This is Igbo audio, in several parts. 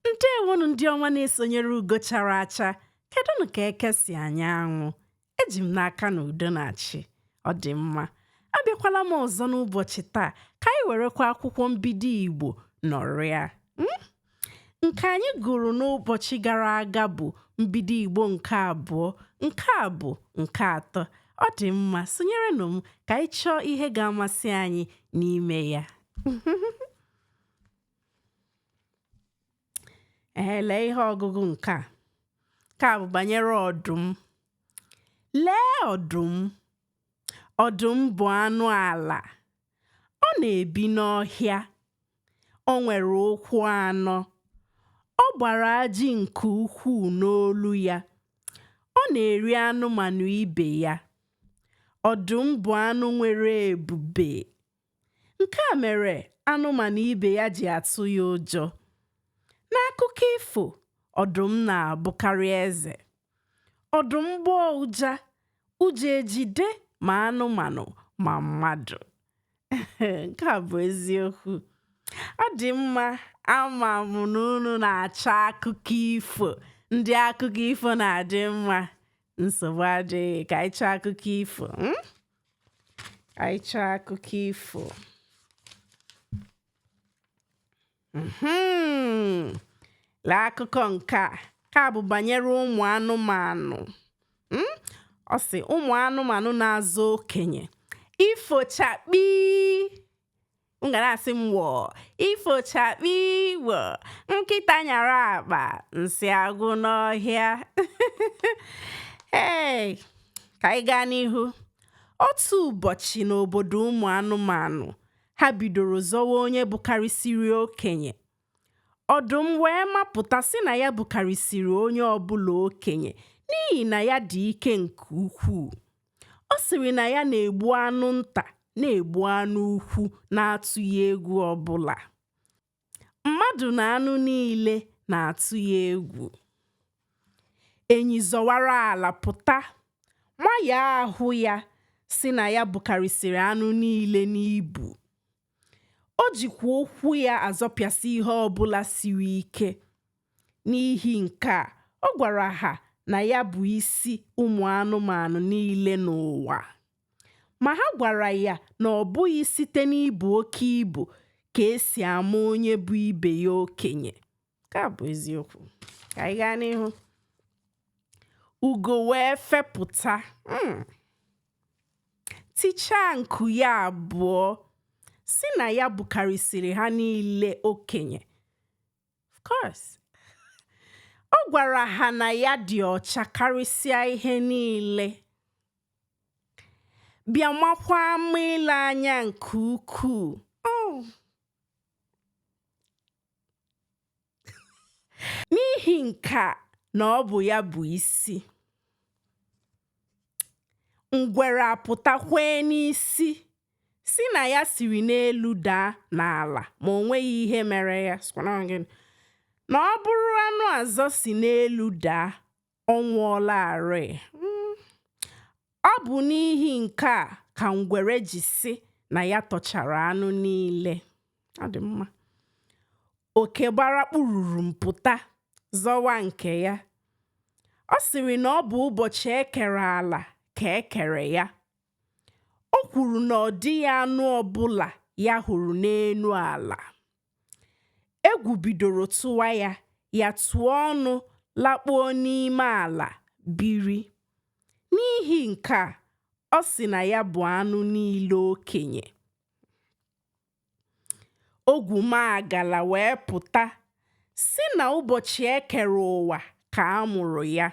ndewonụ ndị ọma na-esonyere ugo chara acha kedụnụ ka eke si anya anwụ eji m n'aka na udo na-achị ọ dị mma abịakwala m ọzọ n'ụbọchị taa ka anyị werekwa akwụkwọ mbido igbo nọrịa mm? nke anyị gụrụ n'ụbọchị gara aga bụ mbido igbo nke abụọ nke a bụ nke atọ ọ dị mma sonyerenụ m ka anyị chọọ ihe ga-amasị anyị n'ime ya ee lee ihe ọgụgụ nke a nke a bụ banyere ọdụm lee ọdụm ọdụm bụ anụ ala ọ na-ebi n'ọhịa o nwere ụkwụ anọ ọ gbara ajị nke ukwuu n'olu ya ọ na-eri anụmanụ ibe ya ọdụm bụ anụ nwere ebube Nke a mere anụmanụ ibe ya ji atụ ya ụjọ. N'akụkọ ifo, ọdụm na-abụkarị eze. Ọdụm gbọọ ụja, ụjọ ejide ma anụmanụ ma mmadụ. Nke a bụ eziokwu. Ọ dị mma ama m na unu na-achọ akụkọ ifo. Ndị akụkọ ifo na-adị mma. Nsogbu adịghị ka anyị chọọ akụkọ ifo. Hmm? anyị chọọ akụkọ ifo mhm. lee akụkọ nke a nke a bụ banyere ụmụ anụmanụ hmm? ọ sị ụmụ anụmanụ na-azọ okenye ifochakpi m ga na-asị m wọọ ifochakpi wọ nkịta nyara akpa nsị agwụ n'ọhịa ee ka anyị gaa n'ihu otu ụbọchị n'obodo ụmụ anụmanụ ha bidoro zọwa onye bụkarịsịrị okenye Ọdụm wee mapụta sị na ya bụkarịsịrị onye ọbụla okenye n'ihi na ya dị ike nke ukwuu. Ọ sịrị na ya na-egbu anụ nta na-egbu anụ ukwu na-atụghị egwu ọbụla. Mmadụ na anụ niile na-atụ ya egwu. Enyi zọwara ala pụta. Nwa ya ahụ ya sị na ya bukarịsịrị anụ niile n'ibu. O jikwa ụkwụ ya azọpịasị ihe ọ bụla siri ike. N'ihi nke a, ọ gwara ha na ya bụ isi ụmụ anụmanụ niile n'ụwa. Ma ha gwara ya na ọ bụghị site n'ibu oke ibu ka e si ama onye bụ ibe ya okenye. nke a bụ eziokwu ka anyị gaa n'ihu ugo wee fepụta hmm. tichaa nku ya abụọ sị na ya bụkarịsịrị ha niile okenye of course ọ gwara ha na ya dị ọcha karịsịa ihe niile bịa makwa mma ile anya nke ukwuu oh. n'ihi nke a na ọ bụ ya bụ isi ngwere apụta kwee n'isi sị na ya siri n'elu daa n'ala ma o nweghị ihe mere ya na ọ bụrụ anụ ọzọ si n'elu daa ọ nwụọlarịị. Mm. Ọ bụ n'ihi nke a ka ngwere ji sị na ya tọchara anụ niile. Ọ dị mma. Oke gbara kpụrụrụm pụta zọwa nke ya. Ọ sịrị na ọ bụ ụbọchị e kere ala ka e kere ya. O kwuru na ọ dịghị anụ ọbụla ya hụrụ n'elu ala. Egwu bidoro tụwa ya, ya tụọ ọnụ lakpuo n'ime ala biri. N'ihi nke a, ọ sị na ya bụ anụ niile okenye. Ogwumagala wee pụta sị na ụbọchị e kere ụwa ka a mụrụ ya.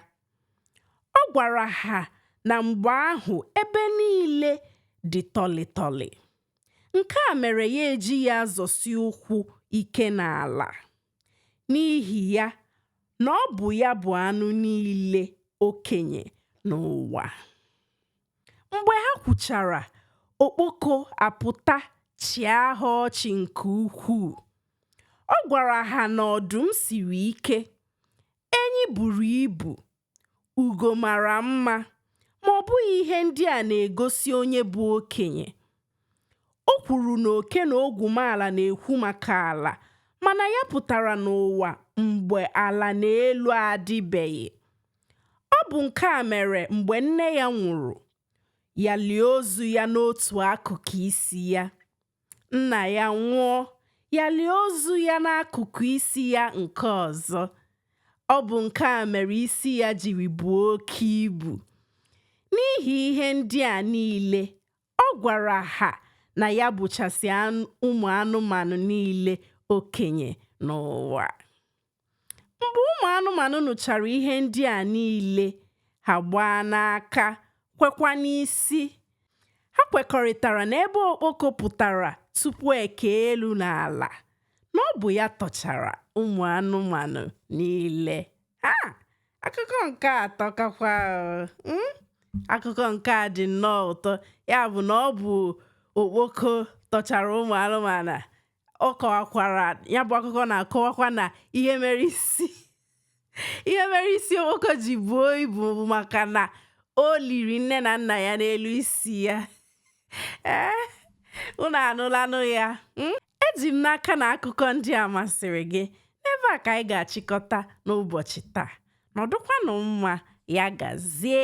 Ọ gwara ha na mgbe ahụ ebe niile dị tọlị tọlị. Nke a mere ya ejighị azọsi ụkwụ ike n'ala. N'ihi ya, na ọ bụ ya bụ anụ niile okenye n'ụwa. Mgbe ha kwuchara, okpoko apụta chịa ha ọchị nke ukwuu. Ọ gwara ha na ọdụm siri ike, Enyi buru ibu, ugo mara mma, ma ọ bụghị ihe ndị a na-egosi onye bụ okenye. O kwuru na oke na ogwumala na-ekwu maka ala, mana ya pụtara n'ụwa mgbe ala na elu adịbeghị. Ọ bụ nke a mere mgbe nne ya nwụrụ, ya lie ozu ya n'otu akụkụ isi ya. Nna ya nwụọ, ya lie ozu ya n'akụkụ isi ya nke ọzọ. Ọ bụ nke a mere isi ya jiri buo oke ibu. N'ihi ihe ndị a niile, ọ gwara ha na ya bụchasị ụmụ anụmanụ niile okenye n'ụwa. mgbe ụmụ anụmanụ nụchara ihe ndị a niile ha gbaa n'aka kwekwa n'isi ha kwekọrịtara na ebe okpoko pụtara tupu e kee elu na ala na ọ bụ ya tọchara ụmụ anụmanụ niile ha akụkọ nke a atọkakwa mm? akụkọ nke a dị nnọọ ụtọ ya bụ na ọ bụ okpoko tọchara ụmụ anụmanụ ọ kọwakwara ya bụ akụkọ na-akọwakwa na ihe mere isi ihe mere isi okpoko ji buo ibu maka na o liri nne na nna ya n'elu isi ya ee eh, unu anụlanụ ya hmm? eji m n'aka na akụkọ ndị a masịrị gị n'ebe a ka anyị ga-achịkọta n'ụbọchị taa nọdụkwanụ mma ya gazie